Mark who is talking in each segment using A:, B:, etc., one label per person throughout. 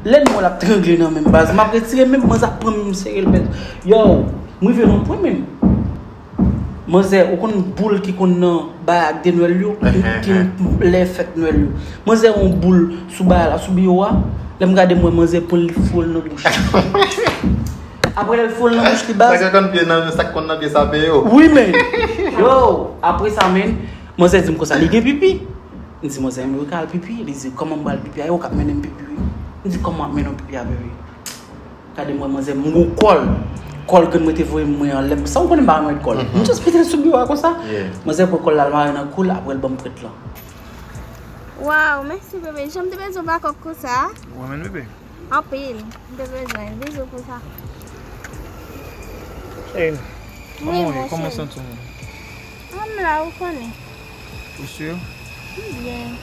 A: Lèn wèl ap trangle nan menm baz map retire menm manzè ap pranm m serel bèt yow m rive nan pwen menm manzè ou konn boul ki konn nan bay ak de nwèl yo ki lè fèt nwèl yo manzè on boul sou bay la sou biwo a lèm gade m wè manzè pranl li foure l nan bouch li aprè lèl foure l nan bouch li baz sak konn
B: nan pye sape yo wi menn
A: yow aprè sa menn Manzè di m konsa, li gen pipi? M di manzè, mwen ka al pipi? Li di, kòman m pral pipi a? E ou k ap mennen m pipi wi. M di, kòman m ap mennen w pipi a bebe? Gade m wè manzè, m wou kò l. Kò l ke mwen te voye mwen an, lè m san m konnen m pa remèt kò l. M just mete l sou biwo a konsa. Manzè pran kò l la, l mare nan kou l, aprè l ban m prèt lan.
C: Waww mèsi bebe, jan m te bezwen bakòk konsa. Ou renmen l
B: bebe? Anpil,
C: m te bezwen l. Bizou pou sa. Kòman
D: w ye?
C: Kòman w santi w menm?
D: An m la ou konnen.
C: Ou sur?
D: M byen.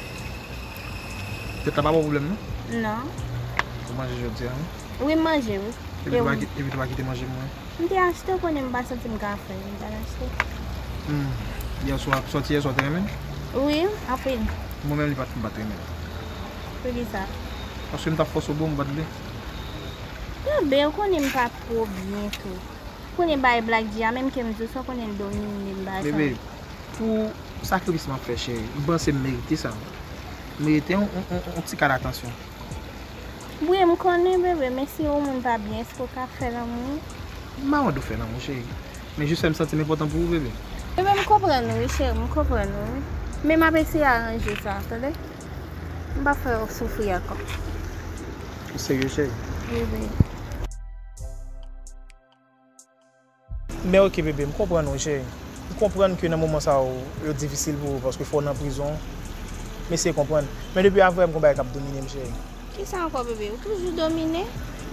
D: Tèt la pa baw pwoblèm non? Non.
C: Ou manje
D: jodi a non? Wi m manje wi.
C: E ou? Epi tou pa
D: kite manje m wi. M te achte ou konnen
C: m pa santi m ka fè m ta achte. Humm yèswa,
D: sòti yèswa ou te renmen l? Wi anpil.
C: Mwen menm li pa t fè m
D: pa t renmen l.
C: Poukisa? Paske m t ap fòse
D: w bo m bat li.
C: Kenbe ou konnen m pa twò byen tou. Konnen bay black di a menm kem diw sa konnen domine m ba sa. Bebe
D: pou sakrifis map fè cheri m panse m merite sa wi m merite yon ti kad atansyon.
C: Wi m konnen bebe men si yon moun pa byen eske w ka fè lanmou. M pa mande w fè
D: lanmou cheri men jis fèm santim enpòtan pou ou bebe. Bebe m konprann
C: ou wi cheri m konprann ou wi men map eseye aranje sa tande m pap fè w soufri ankò. Ou
D: serye cheri? Wi bebe. Men ok bebe m konprann wi cheri m konprann ke nan moman sa yo yo difisil pou ou paske fò w nan prizon m eseye konprann men depi avrè m gon bagay kap domine m cheri. Kisa ankò bebe
C: ou toujou domine.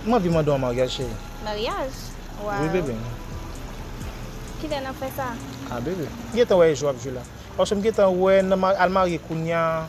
C: M anvi mande w an
D: maryaj cheri. Maryaj?
C: Waww. Wi bebe m. Kilè nap fè sa? Ah bebe m
D: gentan wè e jou ap jwe la paske m gentan wè nan al marye kounya.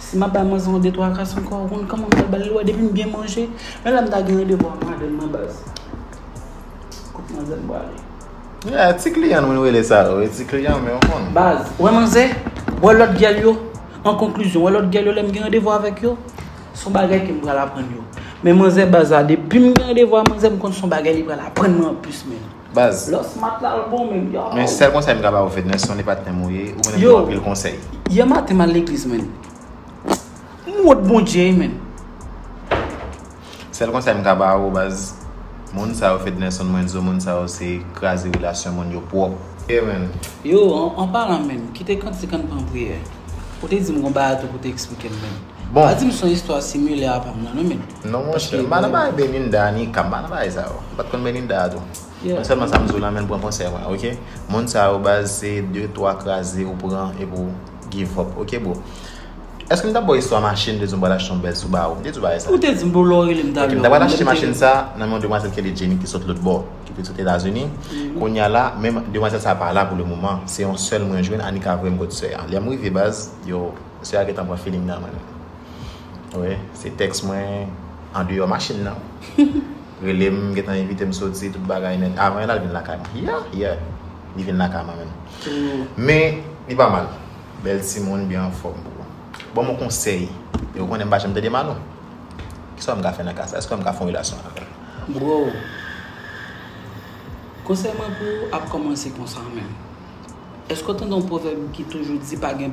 A: Si map bay manzè yon de twa kas ankò ou konn kòman mwen bal li wè depim byen manje menm lèm ta gen randevou ak madanm nan baz kot manzèm prale. Ya ti kliyan nou
B: rele sa yo e ti kliyan men ou konn. Baz, wè manzè,
A: wè lòt gèl yo, an konklizyon wè lòt gèl yo lèm gen randevou avèk yo son bagay kem pral aprann yo men manzè baz la depim gen randevou a manzè m konn son bagay li pral aprann mwen anplis menm. Baz. Lò smat
B: la l
A: bon menm yow. Men sèl konsèy m ka ba ou
B: Fedner sonde patnè m ou ye ou konnen m ba w anpil konsèy. Yow yè maten m al
A: legliz menn. M wont Bondye wi menn.
B: Sèl konsèy m ka ba ou baz moun sa yo Fednerson Moinzo moun sa yo se kraze relasyon moun yo pwòp. Ye menn. Yow an
A: palan menm kite kantik an n pran priyè. Ou te di m gon bagay tou pou w te eksplike m menn. Bon. Pa dim son
B: istwa
A: similè a pam nan non menn. Non monchè, mpa nan
B: bay Belinda, Nika, mpa nan bay sa yo. Mpat konn Belinda a tou. Mwen sèlman sa mdiw lan menn pran konsèy mwen ok. Moun sa yo baz se de twa kraze ou pran epi ou give up ok bro. Èske mtap baw istwa machin mte diw mpral achte yon bèl Subaru? Mte diw bagay sa? Ou te dim bro lè ou relem
A: mtap lè ou. Ok mta pral achte machin sa
B: nan men yon demwazèl ki rele Jenny ki sot lotbò, ki pi sot Etazini. Kounya la men demwazèl sa pa la pou le moman. Se yon sèl mwen jwenn a Nika voyem kot sè a. Lèm rive baz yo. Mesye a gentan pran feeling nan menm wi se tèks mwen andeyò machin nan rele m gentan envite m soti tout bagay nèt avan yon al vin lakay mwen yè yè li vin lakay mwen menm men li pa mal bèl timoun byen anfòm bro banm yon konsèy e ou konnen m pa janm tande mal non kisa m ka fè nan ka sa èske m ka fè yon relasyon avè l. Bro
A: konsèy mwen pou ou ap kòmanse konsa menm èske w tande yon pwovèb ki toujou di pa gen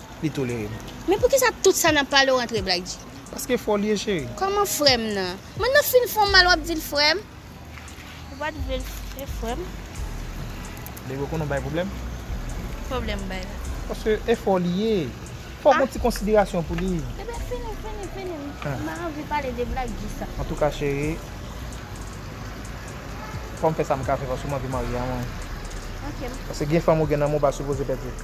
D: li tolere m. Men poukisa tout
C: sa nap pale ou antre black dji. Paske fol ye
D: cheri. Koman frem nan.
C: M'en nan fin fon mal wap dil frem. Ou pat vle l se frem.
D: Baby ou konnen ou bay problem. Problem
C: bay la. Paske efo
D: li ye. Fok gon ti konsiderasyon pou li. Bebe fini fini fini
C: m pa anvi pale de black dji sa. Antouka cheri
D: fom fe sam ka fe paske m anvi marye a mwen. Ok.
C: Paske gen fanm ou
D: gen nan men ou pa sipoze pedi l.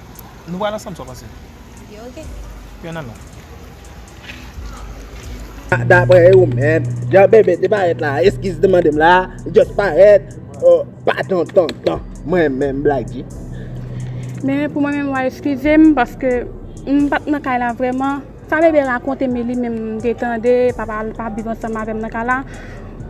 C: Nou pral ansanm sa w
D: panse? Ok
C: ok. Pran nan menm.
E: Daprè ou menm, jan Bebe te parèt la a, eskiz li te mande m la a, li just parèt oh pa ton ton ton mwen menm Blacky? Men
F: pou mwen menm wa eskize m paske m pa t nan kay la vrèman. Sa Bebe rakonte m e li menm m te tande, papa l pa viv ansanm avè m nan kay la.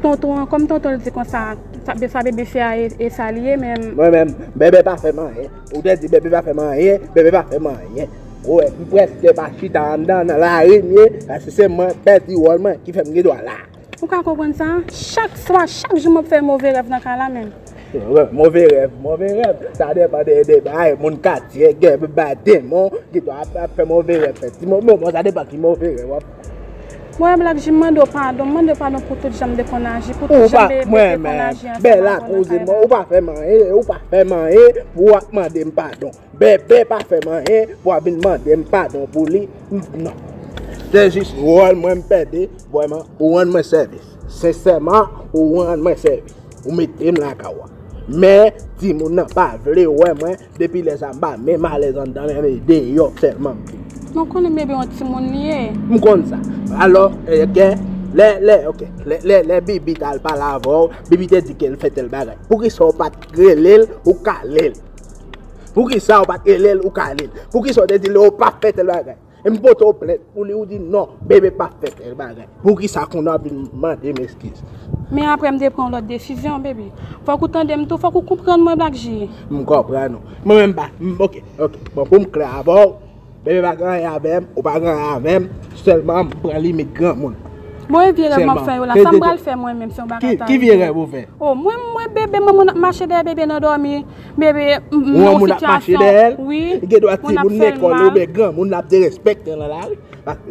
F: Tonton an, kòm tonton l di konsa, sa Bebe fè a e sa l ye men. Mwen menm, Bebe pa
E: fè m anyen. Ou te di bebe pa fèm anyen, bebe pa fèm anyen. Ou wè, m prèske pa chita anndan nan lari m ye, paske se mwen k pèdi wòl mwen ki fè m gen dwa la. Ou ka konprann sa?
F: Chak swa, chak jou m ap fè move rèv nan kay la menm. Move
E: rèv, move rèv, sa depan de bagay moun katye gen, gen bagay demon ki dwa ap fè move rèv. Sa depan ki move rèv w ap fè. Mwen wè
F: Black Jim mande w padon, m mande w padon pou tout jan m te konn aji, pou tout jan BEB te konn aji ansanm ak ou nan kay
E: la. Ou pa fè m anyen, ou pa fè m anyen pou w ap mande m padon. BEB pa fè m anyen pou w ap vin mande m padon pou li. Non. Se jis wòl mwen m pèdi, vrèman, ou rann mwen sèvis. Sensèman, ou rann mwen sèvis. Ou mete m lakay ou a. Men, timoun nan pa vle wè mwen. Depi lè sa m pa menm alèz anndan men e deyò sèlman m vle. Men w konnen bebe
F: yon timoun li ye. M konn sa.
E: Alò, gen, lè, lè, ok, lè, lè, lè Bibi t al pale avè w, Bibi te di ke l fè tèl bagay. Poukisa w pa t rele l ou kale l? Poukisa w pa t rele l ou kale l? Poukisa w te di l ou pa fè tèl bagay? E m pote w plent pou li ou di non bebe pa fè tel bagay. Poukisa kounye a w ap vin mande m eskiz. Men aprè m te
F: pran yon lòt desizyon bebe. Fòk ou tande m tou, fòk ou konprann mwen Black G. M konprann ou.
E: Mwen menm m pa, ok, ok. Bon pou m klè avè w, bebe pa gen anyen avè m, ou pa gen anyen avè m, sèlman m pran limit granmoun. Bon e vye rèv m
F: ap fè yo la, sa m pral fè mwen menm se yon bagay tangible. Ki vye rèv ou fè?
E: Oh mwen m wè bebe
F: manman w ap mache dèyè bebe nan dòmi. Bebe, m nan yon
E: sitiyasyon, wi, moun ap fè l mal. Moun ap derespekte nan lari.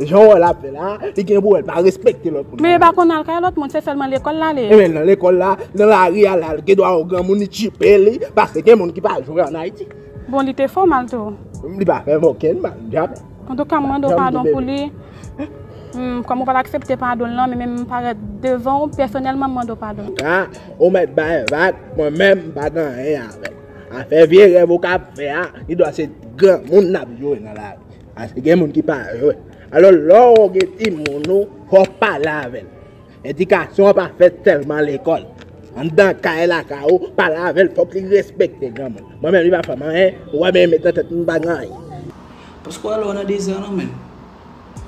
E: Jan wè l ap fè la, li gen pou wè l pa respekte lòt moun. Bebe, pa konn al kay lòt moun,
F: se sèlman lekòl l ale. Emen, nan lekòl la,
E: nan lari a la, li gen dwa wè yon granmoun, li tchipe li, paske gen moun ki pa jwe an Ayiti. Bon, li te fè w
F: mal tou? Li pa fè m
E: okenn mal, djab. An tou ka m mande w
F: padon pou li. Kòm ou pa t aksepte padon l lan, men menm m parèt devan w pèsonèlman m mande w padon. Ka, ou mèt
E: bay vag, mwen menm m pa gen anyen avè l. Afè vye rèv ou ka ap fè a, li dwa se granmoun n ap jwe nan lari. Paske gen moun ki pa jwe. Alò lè w gen timoun ou, fò w pale avè l. Edikasyon an pa fèt sèlman lekòl. Anndan kay lakay ou, paran avè l fòk li respekte granmoun. Mwen menm li pa fè m anyen, ou wè men met nan tèt m pa gen anyen. Paske w wè
A: lè w nan dezè lan menm,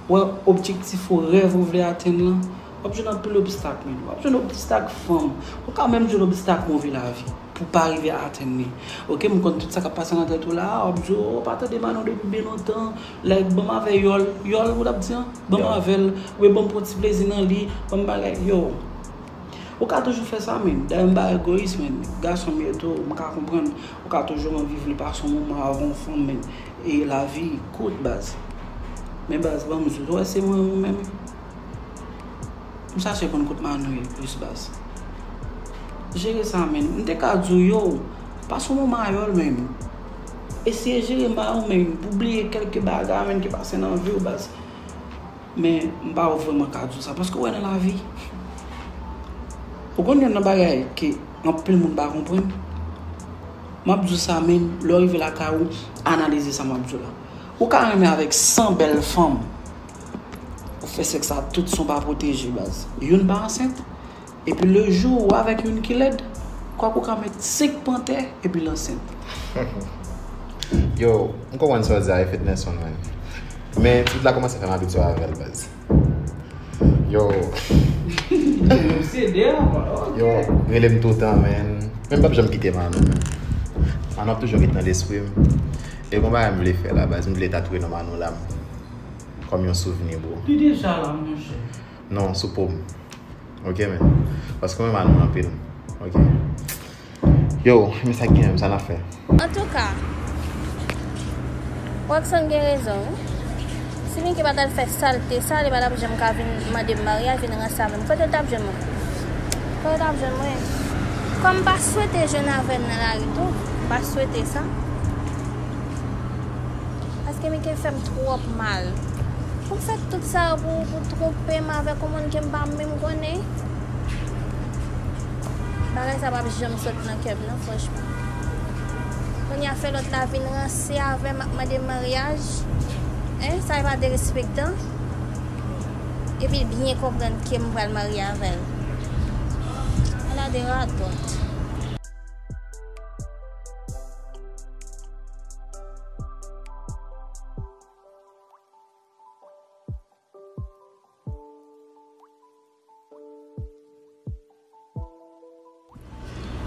A: wè objektif ou, rèv ou vle atenn lan, w ap jwenn anpil obstak men. W ap jwenn obstak fanm, ou ka menm jwenn obstak move lavi pou w pa rive atenn li. Ok m konn tout sa k ap pase nan tèt ou la a, w ap di w pa tande Manon depi byen lontan. Like banm avè yòl, yòl ou tap di an? Banm avèl wi banm pran ti plezi nan li, banm bagay yo. Ou ka toujou fè sa menn, dayè m pa egoyis menn, gason m ye tou, m ka konprann ou ka toujou anvi vle pase yon moman avè yon fanm menn e lavi kout baz. Men baz banm di, ou wè se mwen ou menm? M chache konn kot Manno ye plis baz. Jere sa menn, m te ka di w yow, pase yon moman a yòl menn, Eseye jere may ou menm pou bliye kelke bagay menm ki pase nan viw baz. Men m pa vreman ka di w sa paske ou wè nan lavi ou konn gen nan bagay ke anpil moun pa konprann. Map di w sa menm lè w rive lakay ou analize sa map di w la. Ou ka renmen avèk 100 bèl fanm ou fè sèks a tout san w pa pwoteje baz. Youn pa ansent? Epi lejou ou avèk youn ki lèd, kwak ou ka met 5 pantè epi l ansent.
B: Yow, m konprann sa w di a e Fednerson man. Men tut la kòmanse fè m abitye avè l baz. Yow. Ou obsede
A: a man, ok. Yow,
B: rele m toutan man. Men m pap janm kite Manou man. Manou ap toujou ret nan lespri m. E gon bagay m vle fè la baz, m vle tatouwe non Manou la m. Kòm yon souvni bro. Li deja la monchè.
A: Non, sou poum.
B: Ok men. Paske mwen mal anpil. Ok. Yo, men sa gen, men sa na fè. An tou ka,
C: Rockson gen rezon wi. Si Miki pa tal fè salte sa, li pa tap janm ka vin mande m maryaj, vin ranse avè m. Kote l tap jwenn mwen? Kote l tap jwenn mwen? Kòm m pa swete jwenn avè l nan lari tou, m pa swete sa. Paske Mike fèm twòp mal. Pou m fè tout sa yo pou pou twonpe m avèk yon moun ke m pa menm konnen. Bagay sa pap janm sot nan kè m non franchman. Kounye a fè lòt la vin ranse avè m ap mande m maryaj. Hein sa e pa derespektan. Epi l byen konprann ke m pral marye avè l. Ala de radòt.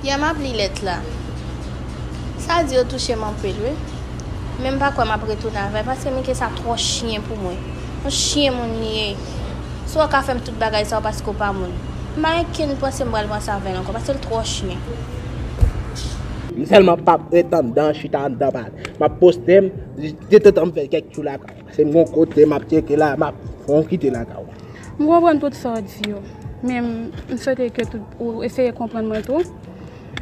C: Pia map li lèt la. Sa di yo touche m anpil wi. Men m pa kwè m ap retounen avè paske Mike sa twò chyen pou mwen. Yon chyen moun li ye. Si wè w ka fè m tout bagay sa yo paske w pa moun. M pa gen kenn panse m pral pran sa avè l ankò pase l twò chyen. M
E: sèlman pap ret andan chita andan pale. Map poste m detantan m fè kèk tchou lakay m pase m gon kote map tyeke la map fè yon kite lakay w. M konprann tout
F: sa w di yo men m swete ke tou ou eseye konprann mwen tou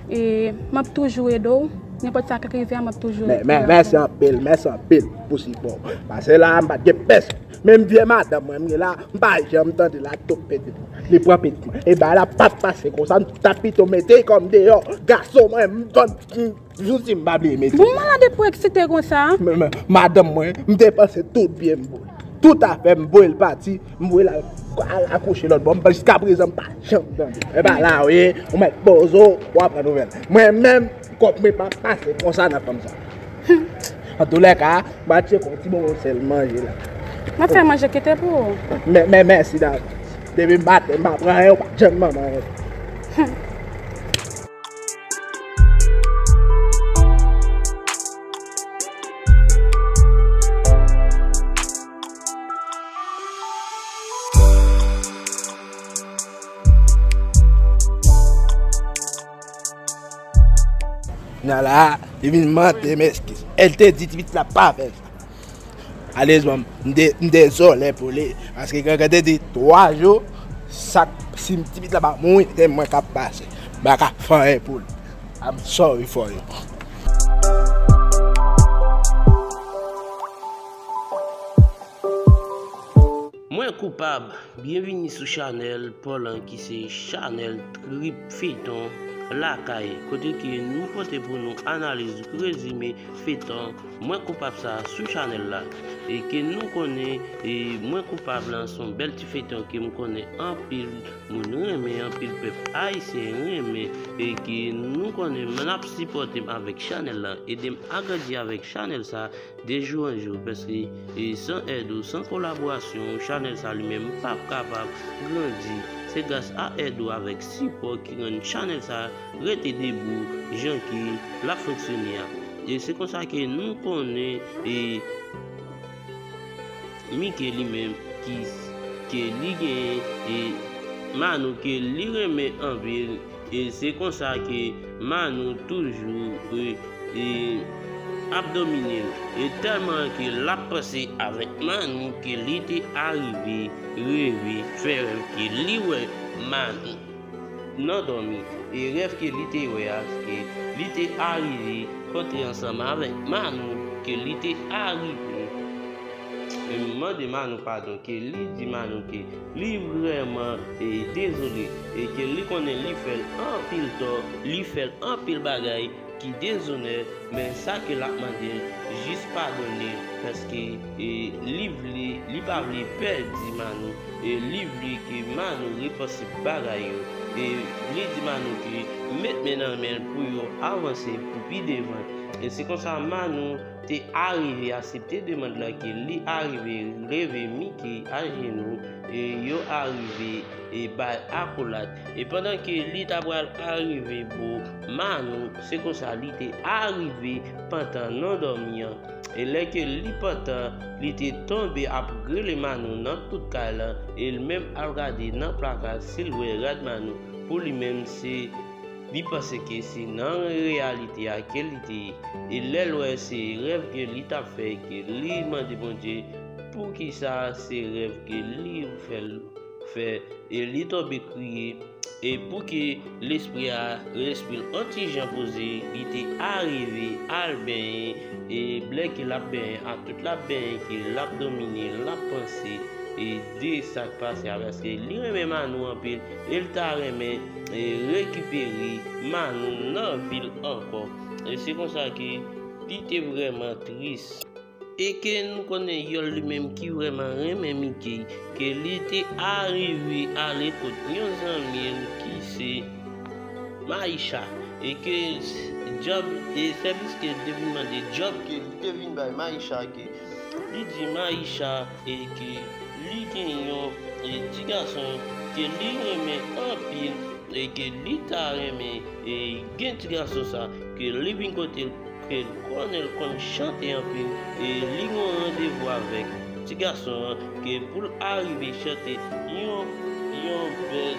F: e map toujou ede w nenpòt sa k rive a map toujou la pou w. Mèsi anpil
E: mèsi anpil pou sipò w pase la m pat gen pèsonn. Menm vye madanm mwen mgen la m pa janm tande la tok pete li pran pete mwen e bagay la pap pase konsa m ta pito mete kòm deyò gason mwen m vann jousi m pa bliye mete. Bon malade pou eksite
F: konsa. Madanm mwen
E: m depanse tout byen m pou li tout afè m voye l pati m voye l al akouche lòtbò jiskaprezan m pa janm tande e bagay la ou ye ou mèt poze w wap pran nouvèl mwen menm. Kòb mwen pa pase konsa nan fanm sa. An tou lè ka, m'a tcheke yon ti bonbon sèl manje la. M'a fè manje
F: kite pou ou. Mè, mè, mèsi
E: davans. Depi m pa te, m pa pran anyen ou pa janm ban mwen anyen. Nala a te vin mande m eskiz. El te di ti pitit la pa fè sa. Alezman m te m dezole pou li. Paske Gangan te di 3 jou sa si ti pitit la pa mouri se mwen k ap pase. M pa ka fè anyen pou li. I'm sorry for you.
G: Mwen koupab, byenvini sou chanèl Paulhan ki se chanèl trip feyton lakay kote ke nou pote pou nou analiz rezime feyton mwen koupab sa sou chanèl la e ke nou konnen mwen koupab lan son bèl ti feyton ke m konnen anpil moun renmen anpil pèp ayisyen renmen e ke nou konnen nap sipòte m avèk chanèl la edem agrandi avèk chanèl sa. De jou an jou paske san èd ou san kolaborasyon ou chanèl sa li menm pap kapab grandi se gras a èd ou avèk sipò ki rann chanèl sa rete debou jan ke lap fonksyone a e se konsa ke nou konnen e mike li menm ki ke li gen e manno ke li renmen anpil. E se konsa ke Manou toujou e ap domine l. E tèlman ke l ap panse avèk Manou ke li te arive reve, fè rèv ke li wè Manou nan dòmi. E rèv ke li te wè a se ke li te arive kontre ansanm avèk Manou, ke li te arive mande Manou padon, ke li di Manou ke. Li vreman dezole e ke li konnen li fèl anpil tò, li fèl anpil bagay ki dezonè men sa ke lap mandel jis padonel paske li vle li pa vle pèdi Manou e li vle ke Manou repanse bagay yo e li di Manou ke met men nan men pou yo avanse pou pi devan e se konsa Manou te arive asepte demand la ke li arive leve Mickey ajenou e yo arive e bay akolad e pandan ke li ta pral arive bo Manou se konsa li te arive pantan nan dòmi an e lè ke li pantan li te tonbe ap grele Manou nan tout kay lan e l menm al gade nan plaka si l wè rad Manou pou li menm se Li panse ke se nan reyalite a ke li te ye, e lè l wè se rèv ke li tap fè ke li mande Bondye poukisa se rèv ke li fè l fè e li tonbe kriye e pou ke lespri a lespri l on ti jan poze li te arive al benyen e lè ke lap benyen ak tout lap benyen ke lap domine lap panse e de sak pase a paske li renmen Manou anpil. El ta renmen rekipere Manou nan vil ankò. Se konsa ke li te vrèman tris. E ke nou konnen Yòl li menm ki vrèman renmen Mickey, ke li te arive ale kot yon zanmi l ki se Maïcha. E ke djòb, e sèvis ke l te vin mande, djòb ke li te vin bay Maïcha ke li di Maïcha. e ke li gen yon ti gason ke li renmen anpil e ke li ta renmen gen ti gason sa ke li vin kote l ke l konnen l konn chante anpil e li gen yon randevou avèk ti gason an ke pou l arive chante yon bèl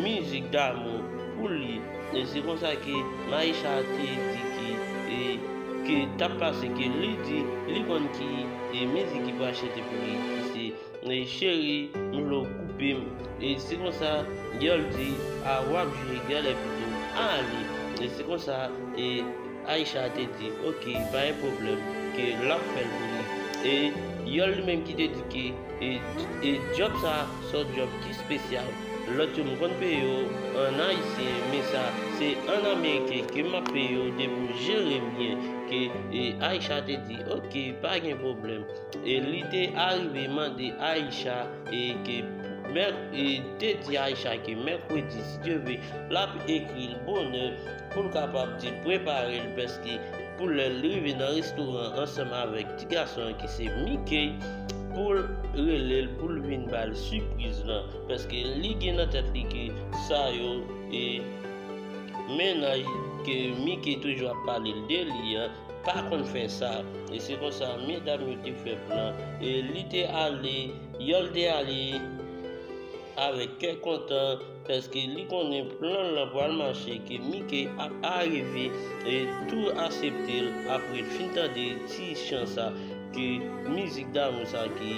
G: mizik damou pou li. E se konsa ke Maisha te di ke e ke tap pase ke li di li konn ki e mizik ki pral chante pou li ki se e cheri m vle w koupe m e se konsa girl di a wap jwe gèlè pito a ale e se konsa e Aisha te di ok pa gen pwoblèm ke lap fè l pou li e girl li menm ki te di ke e e djòb sa son djòb ki spesyal Lot yo m konn peye yo an ayisyen men sa se an ameriken ke map peye yo depi w jerem byen ke Aisha te di ok pa gen pwoblèm e li te arive mande Aisha e ke e te di Aisha ke mèkredi si Dye vle lap ekril bonè poul kapab di prepare l pèske Pou lè l rive nan restoran an ansanm avèk ti gason an ki se Mickey pou l rele l pou l vin ba l sipriz lan paske li gen nan tèt li ke sa yo e mennaj ke Mickey toujou ap pale l de li an pa konn fè sa e se konsa medam yo te fè plan e li te ale Yòl te ale avèk kè kontan. Paske li konnen plan lan pral mache ke Mickey ap arive tou aseptel aprel fin tande ti chan sa ke mizik damou sa ke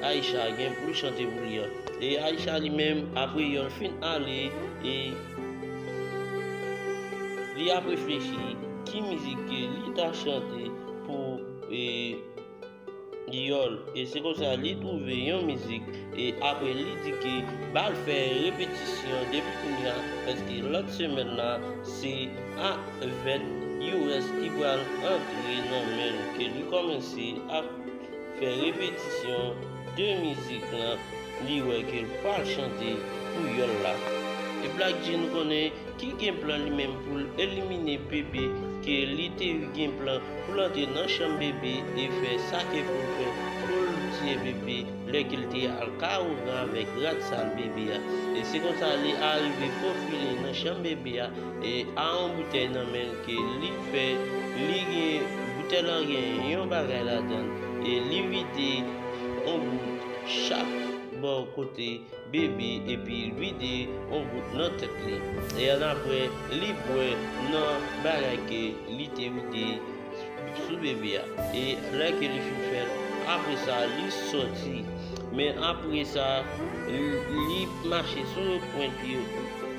G: Aïcha gen poul chante pou li an e Aïcha li menm apre yol fin ale e li ap reflechi ki mizik ke li ta chante pou Dyòl e se konsa li twouve yon mizik e apre li di ke bal fè repetisyon depi kounya paske lòt semèn la se a vèt you rès ki pral antre nan menl ke li kòmanse ap fè repetisyon de mizik lan li wè ke l pral chante pou yòl la e Black-G nou konnen ki gen plan li menm pou l elimine Bebe ke li te gen plan pou l antre nan chanm Bebe e fè sa ke pou l fè pou l tiye Bebe lè ke l te al ka Ougan avèk rad sal Bebe a e se konsa li arive fofile nan chanm Bebe a e a yon boutèy nan men l ke li fè li gen boutèy lan gen yon bagay ladan l e li vide yon gout chak bò kote bebe epi l vide on gout nan tèt li e annapre li bwè nan bagay ke li te vide sou bebe a e lè ke li fin fèt apresa li sòti men apresa li mache sou yon pwent pye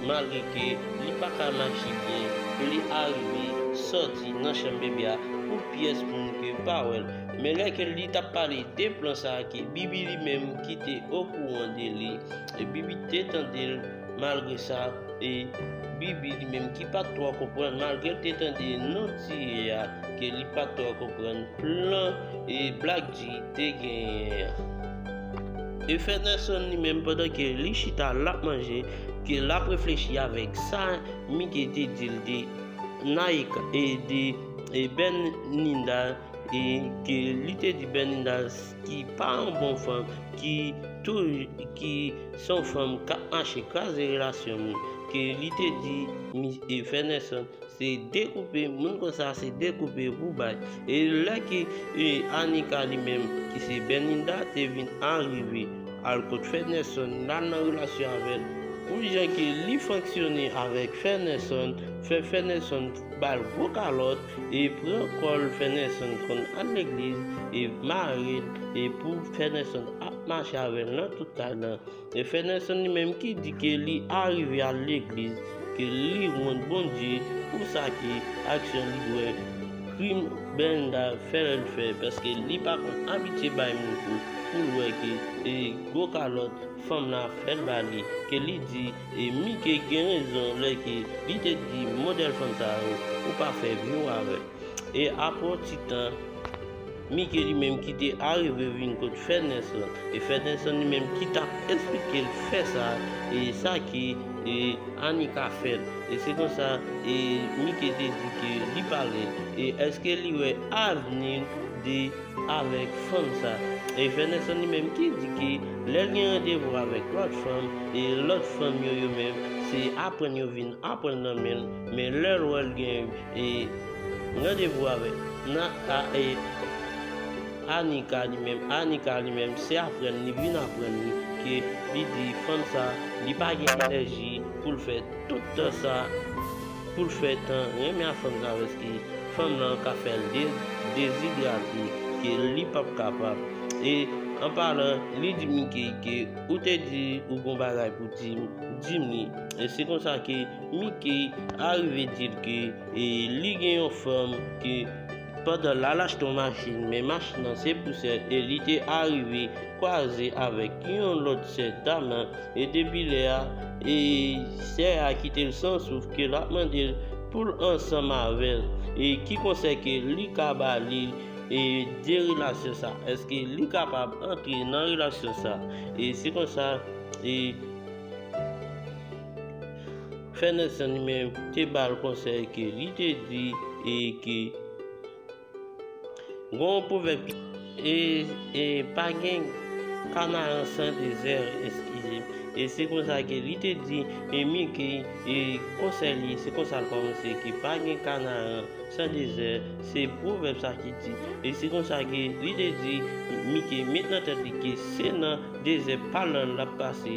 G: malgre ke li pa ka mache byen pou li arive sòti nan chanm bebe a pou pyès moun ke pa wè l men lè ke li t ap pale de plan sa ke bibi li menm ki te okouran de li e Bibi te tande l malgre sa e Bibi li menm ki pa t twò konprann malgre l te tande non Tiye a ke li pa t twò konprann plan e Black G te genyen an. E Fè Nèlson li menm pandan ke li chita l ap manje ke l ap reflechi avèk sa Mike te di l de Naïka e de Bernida e ke li te di Bernida ki pa yon bon fanm, ki ki se yon fanm k ap mache kraze relasyon moun, ke li te di e Frè Nelson se dekoupe, moun konsa se dekoupe pou bay. E lè ke Anika li menm ki se Berninda te vin arive al kot Frè Nelson, l al nan relasyon avè l, pou jan ke li fonksyone avèk Frè Nelson, fè Frè Nelson. bal gwo kalòt e pran kòl fènèson konn al legliz e marel e pou fènèson ap mache avèl nan tout kay nan e fènèson li menm ki di ke li arive al legliz ke li wont Bondye pou sa ki aksyon li wè krim Benda fèl fè paske li pa konn abitye bay moun kou poul wè ke e gwo kalòt fanm nan ap fèl bali ke li di E mike gen rezon lè ke li te di modèl fanm sa yo ou pa fè view avèl. E aprè yon ti tan mike li menm ki te arive vin kot fènèson e fènèson li menm ki tap esplikel fè sa e sa ke anika fèl e se konsa e mike te di ke li pale e eske li wè avnil de avèk fanm sa e frè Nelson li menm ki di ke lèl gen randevou avèk lòt fanm e lòt fanm yo yo menm se aprann yo vin aprann nan menl men lèl wèl gen e randevou avèk nan a e Anika li menm Anika li menm se aprann li vin aprann li ke li di fanm sa li pa gen enèji poul fè tout tan sa. Poul fè tan renmen a fanm sa paske fanm lan ka fèl dezidrate ke li pap kapab e an palan li di Mickey ke ou te di ou gon bagay pou dim dim li e se konsa ke Mickey arive dil ke li gen yon fanm ke Pandan lal achte yon machin men machin nan se pou sè e li te arive kwaze avèk yon lòt sè dam e depi lè a e sè a kitel san souf ke lap mandel poul ansanm avèl e ki konsèy ke li ka ba li e de relasyon sa eske li kapab antre nan relasyon sa e se konsa e. Fenelson li menm te ba l konsèy ke li te di e ke gen yon pwovèb ki e e pa gen kanaran san dezè eskize m e se konsa ke li te di Emi ke e konsèy li se konsa l kòmanse ke pa gen kanaran san dezè se pwovèb sa ki di e se konsa ke li te di Mike met nan tèt li ke se nan dezè pa l la l ap pase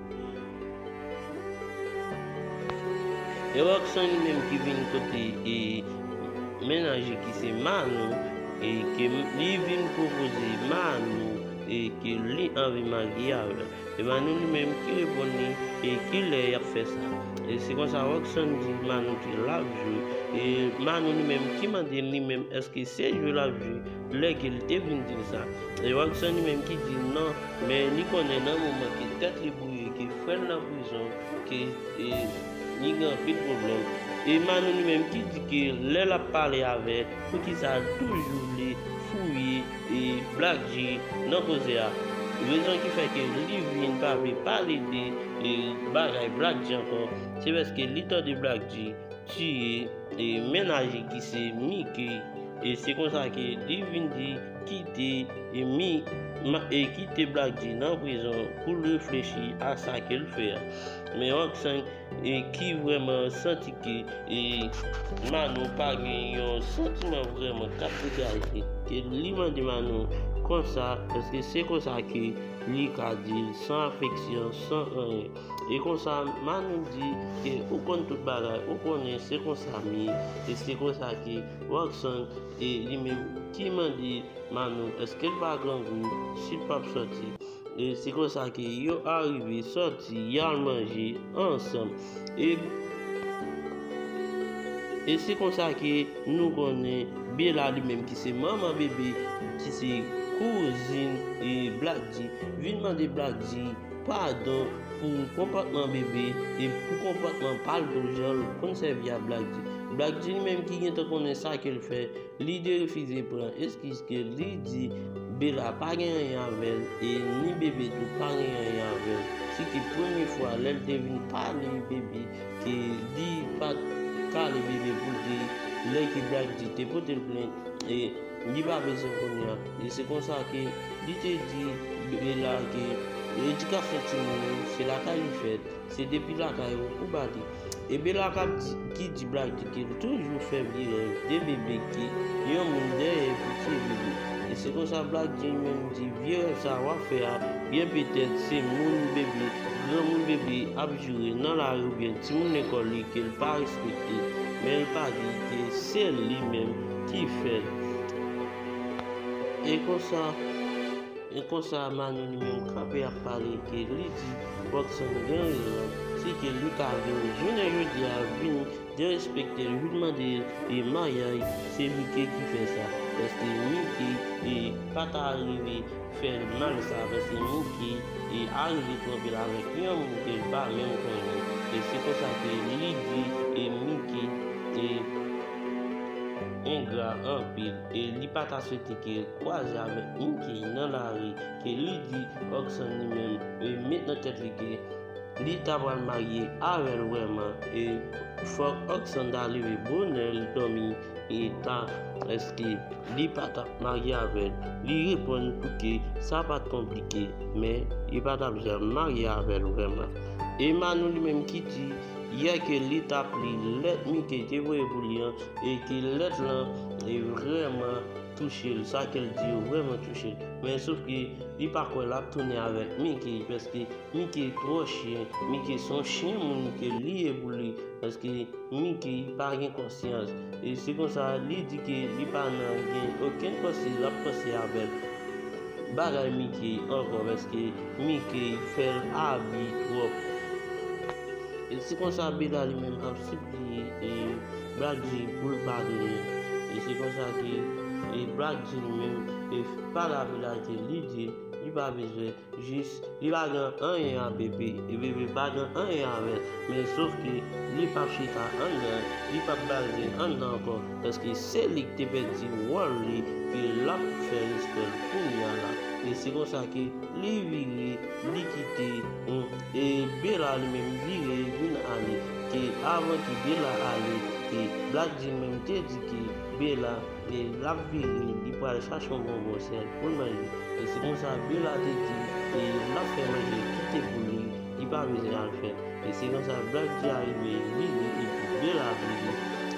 G: E Roxanne menm ki vin kote e menanje ki se Manou e ke li vin pwopoze Manou e ke li anvi marye avèl. E Manou li menm ki reponn li e ki lè yap fè sa. E se konsa Roxanne di Manou ke lap jwe e Manou li menm ki mande li menm eske se jwe lap jwe. Lè ke l te vin di l sa. E Watson li menm ki di l non, men li konnen nan moman ke tèt li bwouye, ke frè l nan prizon, ke li gen anpil pwoblèm. E Manou li menm ki di ke lè l ap pale avè, poukisa l toujou vle fouye Black-G nan koze a. Rezon ki fè ke li vin pa vle pale de bagay Black-G ankò, se paske li tande Black-G tiye. E mennaj li ki se Mike, e se konsa ke li vin di kite Mi, ma, e kite Black G nan prizon pou l reflechi a sa ke l fè a. Men Rockson e ki vrèman santi ke e Manou pa gen yon santiman vrèman k ap degaje, e li mande Manou konsa, èske se konsa ke li ka di l san afeksyon, san anyen. E konsa Manou di ke ou konn tout bagay ou konnen se konsa m ye e se konsa ke Rockson e li menm ki mande Manou eske l pa grangou si l pap sòti e se konsa ke yo arive sòti y al manje ansanm e se konsa ke nou konnen Bella li menm ki se manman Bebe ki se kouzin Black-D vin mande Black-D Padon pou konpòtman bebe e pou konpòtman pa l tou jan l konn sèvi a Black G. Black G li menm ki gentan konnen sa ke l fè, li derefize pran eskiz ke li di Bella pa gen anyen avè l e ni bebe tou pa gen anyen avè l. Se te premye fwa lè l te vin pale bebe ke li pa t kale bebe pou l te lè ke Black G te pote l plent e Li pa bezwen kounye a. E se konsa ke li te di Bebe la ke edikasyon timoun yo se lakay li fèt, se depi lakay ou pou ba li. E Bela kap di ki di bladi ke li toujou fè vye rèv de Bebe ke yon moun dèyè pou tiye Bebe. E se konsa Bladi menm di vye rèv sa a wap fè a byen petèt se moun Bebe, granmoun Bebe ap joure nan lari oubyen timoun lekòl li ke li pa respekte, men li pa di ke se li menm. Ki fè e konsa e konsa Manu li menm kanpe ap pale ke li di Rockson gen rezon si ke li ta vin jounen jodi a vin derespekte l vin mande e maryaj se Micke ki fè sa paske Micke e pa ta rive fè l mal sa paske Micke e arive twonpe l avèk yon moun ke l pa menm konnen e se konsa ke li di e Micke e Engra anpil e li pa ta swete ke yo kwaze avèk Mickey nan lari ke li di Rockson li menm li met nan tèt li ke li ta pral marye avè l vrèman e fòk Rockson ta leve bonè l dòmi e ta èske li pa tap marye avè l li reponn pou ke sa pat konplike men li pa tap janm marye avè l vrèman e Manou li menm ki di Yè ke li tap li lèt Mike te voye pou li an e ke lèt lan te vrèman touchel, sa kel di yo vrèman touchel. Men sof ke li pa kwè lap tounen avèk Mike paske Mike twò chyen, Mike son chyen moun ke li ye pou li paske Mike pa gen konsyans. E se konsa li di ke li pa nan gen okenn panse lap panse avèk bagay Mike ankò paske. Mickey fèl abi twòp. E se konsa Bella li menm ap sipliye e Black G poul pa donnen. E se konsa ke e Black G li menm e pa lavi la ke li di li pa bezwen jis li pa gen anyen a Bebe e Bebe pa gen anyen avèl men sof ke li pap chita anndan li pap bal zen anndan ankò. Paske se li ki te pèdi wòl li ke lap fè respè l kounya la e se konsa ke li vire li kite m e Bella li menm vire vin ale ke avan ke Bella ale ke Black G menm te di ke Bella ke lap vire li pral chache yon bonbon sèl pou l manje e se konsa Bella te di ke lap fè manje kite pou li li pa bezwen al fè E se konsa Black G arive vini epi delavini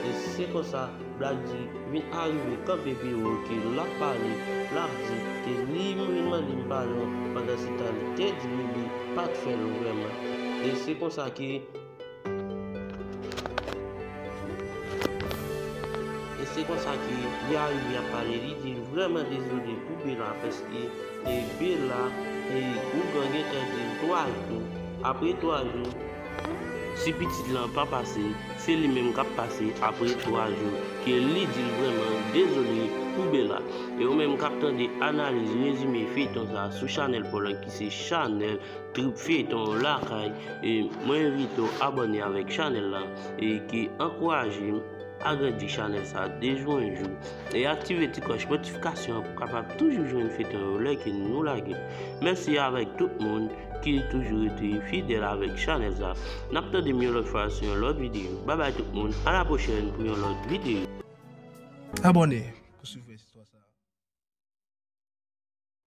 G: e se konsa Black G vin arive kanpe pi wo ke lap pale lap di ke li vin mande m padon pandan se tan li te di m li pat fè l vrèman e se konsa ke e se konsa ke li arive ap pale li di l vrèman dezole pou Bella paske. E Bella e ougan gentan dil 3 jou apre 3 jou si pitit lan pa pase se li menm kap pase apre 3 jou ke li dil vrèman dezole pou Bella e ou menm kap tande analiz rezime feyton sa sou chanèl paw lan ki se chanèl trip feyton lakay e mwen envitew abòne avèk chanèl lan e ki ankourajem. Agrandi chanèl sa de jou en jou e aktive ti klòch notifikasyon an pou kapab toujou jwenn feyton yo lè ke nou lage. Mèsi avèk tout moun ki toujou rete fidèl avèk chanèl sa. Nap tande m yon lòt fwa sou yon lòt videyo. Bye bye tout moun, a la pwochèn pou yon lòt
E: videyo. Abòne
G: pou swiv
E: rès
G: istwa sa.